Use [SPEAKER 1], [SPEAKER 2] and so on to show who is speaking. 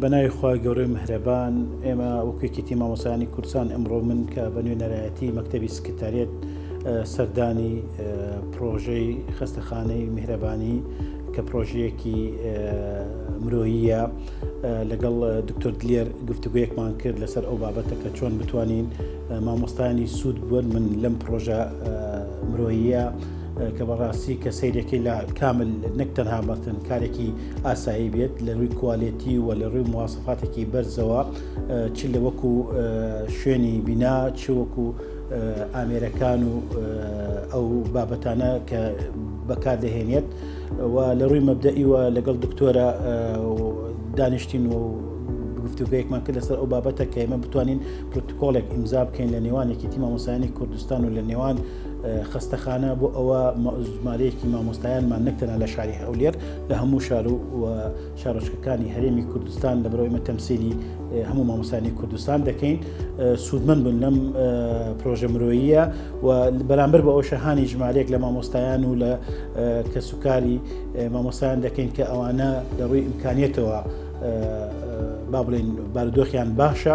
[SPEAKER 1] بە ناوی خوای گەورەی مهرەبان ئێمە وەکو یەکێتی مامۆستایانی کوردستان ئەمڕۆ من کە بە نوێنەرایەتی مەکتەبی سکرتاریەت سەردانی پرۆژەی خەستەخانەی میهرەبانی کە پرۆژەیەکی مرۆییە لەگەڵ دکتۆر دلێر گفتوگویەکمان کرد لەسەر ئەو بابەتە کە چۆن بتوانین مامۆستانی سوود بوون من لەم پرۆژە مرۆییە کە بەڕاستی کە سیرەکەی لە کامل نەک تەنها بەتن کارێکی ئاسایی بێت لە ڕووی کوالێتی و لە ڕووی موواسەفاتێکی بەرزەوە چ لە وەکو شوێنی بینا چ وەکو ئامێرەکان و ئەو بابەتانە کە بەکار دەهێنێت و لە ڕووی مەبدەئیوە لەگەڵ دکتۆرە دانیشتین و گفتوگەیەکمان کرد لەسەر ئەو بابەتە کە ئێمە بتوانین پرتکۆڵێک ئیمزا بکەین لە نێوانێکی تیمامۆسایانی کوردستان و لە نێوان خەستەخانە بۆ ئەوە ژمارەیەکی مامۆستایانمان نەک تەنها لە شاری هەولێر لە هەموو شار و شارۆچکەکانی هەرێمی کوردستان لە بەرەوەی مەتەمسیلی هەموو مامۆستانی کوردستان دەکەین سوودمەند بن لەم پرۆژە مرۆییە و بەرامبەر بە ئەو شەهانی ژمارەیەک لە مامۆستایان و لە کەسوکاری مامۆستایان دەکەین کە ئەوانە لە ڕووی ئیمکانیتەوە با بڵێن بارودۆخیان باشە